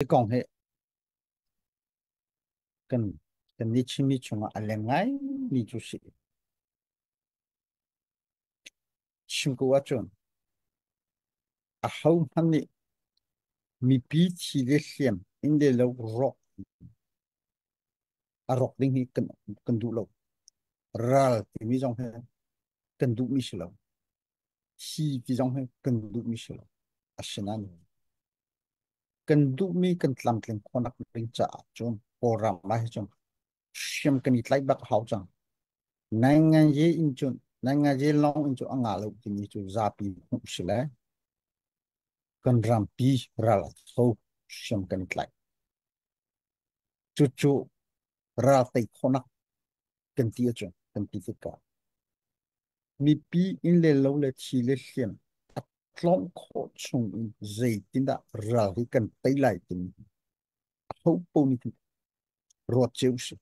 Hi kong hi kan kan ni chimi chungah a leng ngai mi cu si. Chim ko ahcun a ho hmanh nih mipi thi le hliam in le lo rawk a rawk ding hi kan kan duh lo ral timi zong hi kan duh mi si lo hi ti zong hi kan duhmi si lo asinain kan duhmi kan tlamtling khawnak ding caah cun kawlram ah hi cun hriam kan i tlaih bak hau cang nai ngaje in cun nai ngaje long in cu anga lo timi cu zapi hmuh si le kan rampi ral so hriam kan i tlaih cucu ralte khonak kan ti acun kan ti ka mipi in le lo le thi le hliam a tlawng kho chung in zeitindah ral hi kan tei lai tin ho po ni tin ruat cheu si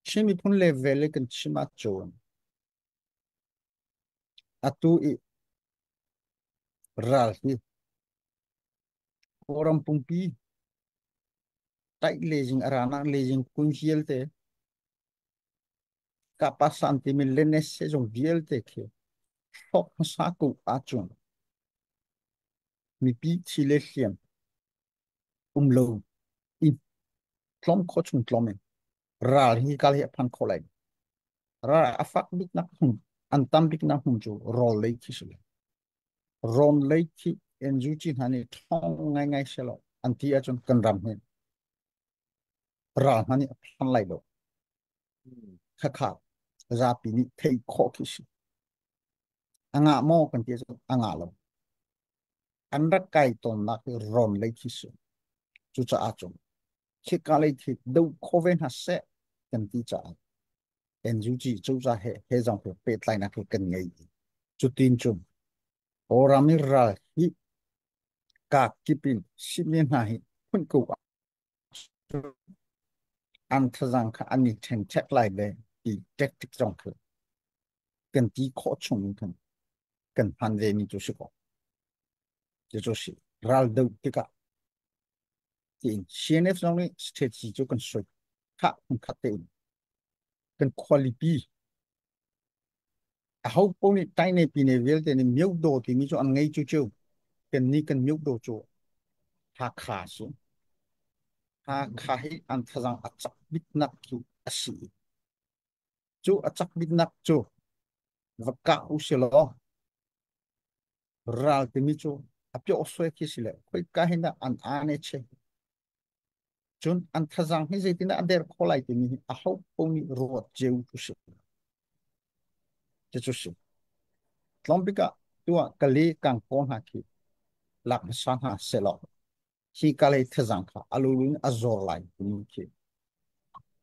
shin mi phun le vele kan chima chon atu i ral hi Kawlram pumpi taih lejing aranak lejing kun hialte kapasan ti min lenes se jong vialte khi sok sa ku a chung mi pi thi le hliam um lo i tlom kho chung tlom in ral hi kal hi phan kho lai ral afak bik nak hum an tam bik nak hum chu rol lei khi su Ron lei thi NUG hna nih thong ngaingai se lo an ti ahcun kan ram hi ral hna nih a phan lai lo khakha zapi nih thei khawh khi si anga maw kan ti ahcun anga lo an rak kai tawnnak hi ron lei khi si cucaah cun khika lei khi do kho ve hna seh kan ti caah NUG cozah he he zong cu pehtlainak cu kan ngei cutin cu Kawlram i ral hi kak kip in sihni hna hi phun ko an thazang kha an i ṭhen chek lai le ti tactic zong cu kan ti khawh chung in khan kan hman ve mi cu si ko ti cu si ral do tikah tiin CNF zong nih strategy cu kan soi tha kan khat te in kan quality a ho po nih tai ne pi ne vialte ne miu do timi cu an ngei chu chu kan ni kan miu do chu tha kha si tha kha hi an thazang a chak bit nak chu a si chu a chak bit nak chu va ka u se law ral timi cu a pyohsuai khi si le khoika hin dah an ane che cun an thazaang hi zeitindah a der kho lai timi hi a ho nih ruat ceu cu si ti cu si tlawmpik ah tuah kali kang ko hna khi lak hmasa hna selaw hi kalei thazaang kha alulu in a zor lai timi khi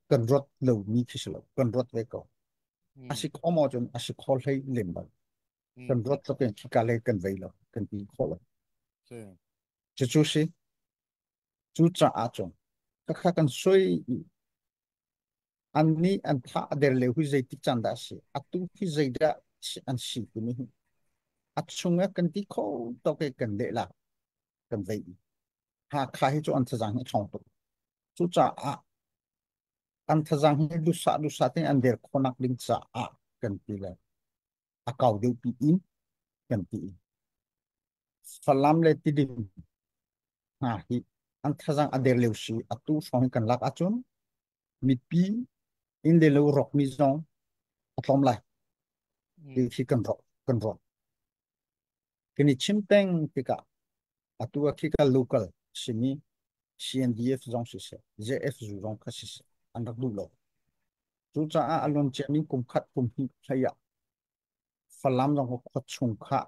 kan ruat lo mi khi si lo kan ruat ve ko hmm. asi khomo cun asi kho hlei lem bal kan ruat tuk in hika lei kan vei lo kan ti khawh lo cucu si cu caah cun kakha kan soi an nih an tha a der le hui zeitik can dah si atu hi zeidah an si timi hi a chunga kan ti kho tok e kan de la kan vei ha kha hi chu an thazang hi thong tuk cu caah an thazang hi dusa dusa te an der khonak ding caah kan ti le a kau deuh pi in kan ti Falam le Tidim hna hi an thazang a der leu si a tu hrawng kan lak ahcun mipi in le lo rok mi zong a tlawm lai khi kan rok kan ruat Kan i chim peng tikah atu a khi ka local simi CNDF zong siseh, JFZU zong kha siseh, an rak duh lo. Cucaah a luan ciami kum khat kum hnih hleiah Falam zong khua chung kha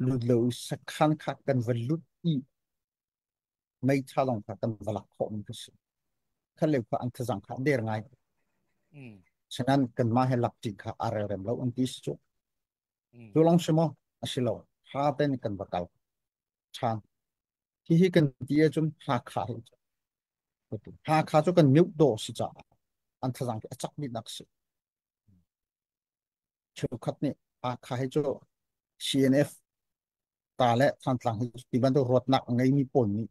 lut lo i sakhan kha kan va lut i meitha lawng kha kan va lak khawh mi ka si. Khaleu kha an thazang kha der ngai. Sanan kanmah he lak ṭi kha a relrem lo an ti si cu. Mm. Cu lang si maw? A si lo. Hra ten kan va kal. Than. Hi hi kan ti e cun Hakha Hakha cu kan miu do si ca. An thazang ki a chak mit nak si. Chukhat ni Hakha hi cu CNF ta le than tlang hi ti bantu ruat nak ngai mi pon ni.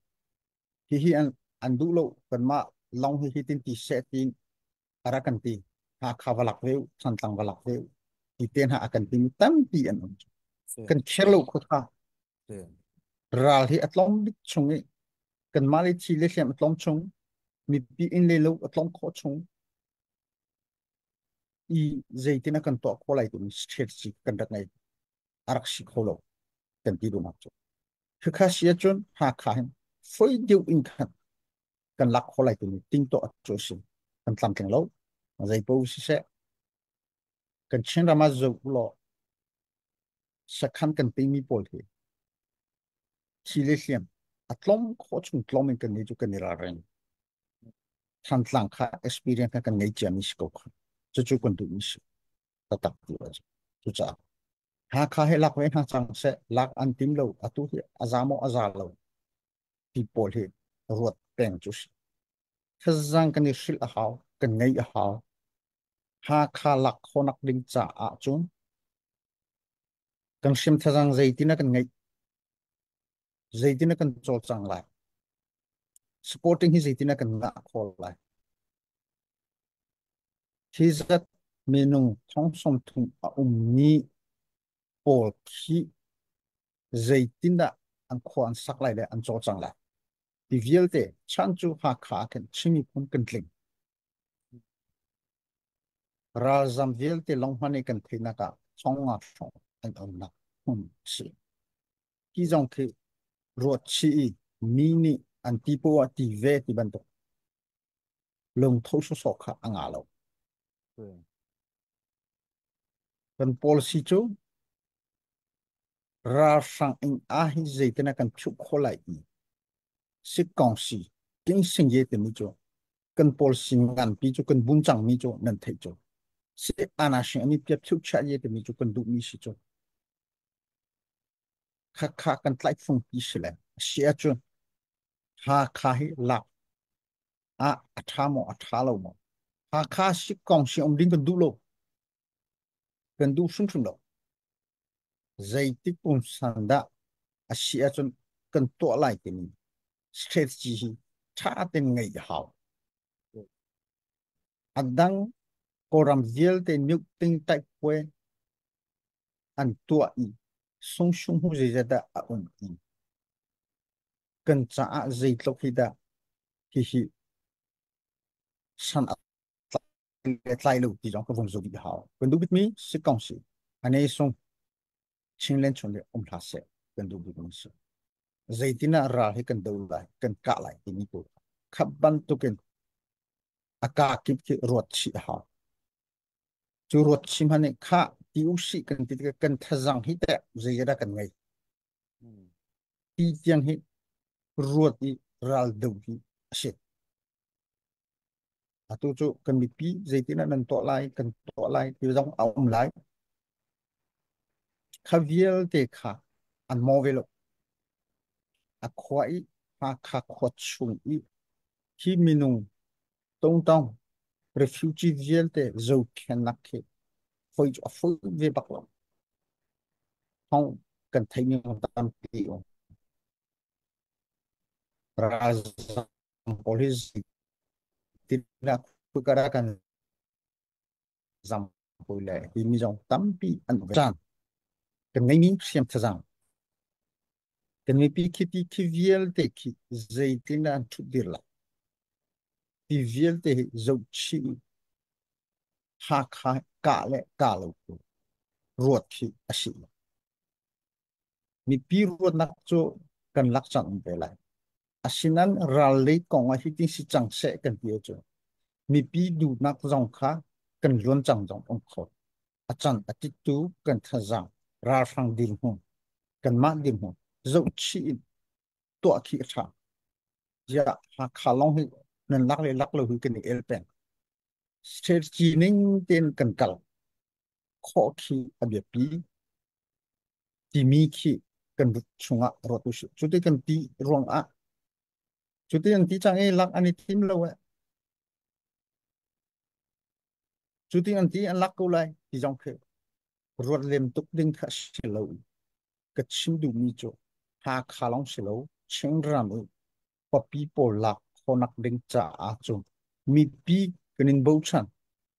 Hi hi an an du lo kan ma long hi hi tin ti se tin para kan ti ha kha va lak deu san tlang va lak deu ti te ha kan ti mi tampi an um kan kher lo kho tha ral hi atlom bik chung i kan mali thi le hliam atlom chung mi pi in le lo atlom kho chung i zeitina kan to kho lai tu state si kan rak nei arak si kho lo kan ti du nak chu kha sia chun ha kha hin foi deu in khan kan lak kho lai tu ting to chu si kan tlam theng lo zai po si se kan chin rama zo lo sakhan kan ping mi pawl hi chi le hliam a tlom kho chung tlom in kan ni chu kan ni ra reng than tlang kha experience kha kan ngei chia mi si ko kha chu chu kan du mi si ta tak tu a chu cha ha kha he lak ve na chang se lak an tim lo atu hi azamo aza lo ti pawl hi ruat peng cu si. Thazang kan i hrilh a hau, kan ngei a hau. Hakha lak khonak ding caah cun kan hrim thazang zeitina kan ngeih, zeitina kan cawlcang lai, supporting hi zeitina kan ngah khawl lai. Hi zat minung thong som thum a um ni pawl khi zeitindah an khua an sak lai le an caw cang lai ti vialte chan cu Hakha ah khin Chinmi phun kan tling ralzam vialte long hman i kan theihnak ah thonga hrawng an onnak hmun a si hi zong khi ruat chih i mi nih an ti poah ti ve ti bantuk lungtho sosok kha a nga lo kan policy cu ralhrang in ah hi zeitin kan thuh khawh lai ti sikkong si ting sing ye timi cu kan pawl sing ngan pi cu kan bun chang mi cu nan thei cu si ana sing ani piap thiu cha ye timi cu kan duh mi si cu kha kha kan tlai phung pi si le sia cu ha kha hi lak a a tha mo a tha lo mo ha kha si kong si om ding kan duh lo kan duh hrimhrim lo. Zeitik pumsan dah a si ahcun kan tuah lai timi strategy hi tha ten ngeih a hau. Adang kawram vialte niuk ting taik puai an tuah i sung sung hu zeizat dah a um i kan caah zeitluk hi dah hihi san a kan tlai lo ti zong ka vung zumh hau kan du bit mi si kong si ane sung chin len chun le um hla se kan du bit mi si zeitina ral hi kan do lai kan ka lai ti ni ko khat ban tukin aka kip ki ruat chi ha chu ruat chi mane kha ti u si kan ti kan thazang hi te zeira kan ngai ti tiang hi ruat i ral do hi a si Atu cu kan mipi zeitin ah nan tuah lai kan tuah lai ti zong a um lai. Kha vialte kha an maw ve lo. A khua i Hakha khua chung i hi minung tongtong refugee vialte zohkhen nak khi hoi cu a ful ve bak lo. Thong kan theih ning tampi um. Ralzam pawl hi tinah kukara kan zam pui le hi mi zong tampi an uve cang kan ngei mi hriam thazang kan ngei pi khi ti khi vial te khi zeitin an thut dir la ti vial te hi zo chi ha kha ka le ka lo ruat hi a si Mipi ruahnak cu kan lak cang te lai. Asinan ral lei kong ah hitin si cang seh kan ti cu mipi duhnak zong kha kan luan cang zong um kho. A cang a titu kan thazaang ralhrang dil hmu kanmah dil hmu zoh chih in tuah khi a tha ya Hakha long hi nan lak le lak lo hi kan i el peng safety ning ten kan kal khawh khi a biapi timi khi kan but chungah ruat u sih. Cuti kan ti ruangah cuti an ti chang i lak an i thim lo eh. Cuti an ti an lak ko lai ti zong khi ruat lem tuk ding kha si lo. Ka chim duhmi cu Hakha long si lo Chingram u papi pawl lak khonak ding caah cu mipi kan in bochan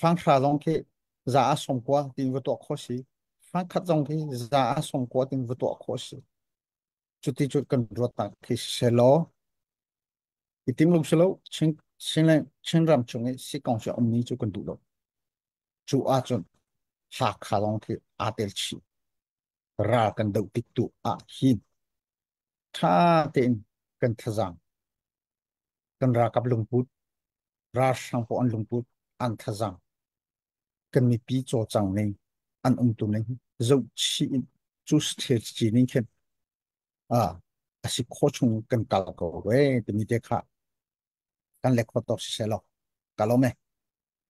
Fanghra zong khi za a som kua tin va tuah kho si. Fangkhat zong khi za a som kua tin va tuah kho si. Cuti cu kan ruat tak khi se law. I tim lum se lo, Chin Chin le Chin ram chung i si kong si om ni cu kan duh lo. Cu a cun Hakha zong khi aa tel chi. Ral kan do tik tu ah hin. Tha tein kan thazang. kan ralkap lungput ralhrang pawl an lungput an thazang kan mipi cawcang ning an umtu ning zoh chih in cu stage ci ning khin a asi kho chung kan kal ko we timi te kha kan le khotok si se lo kalome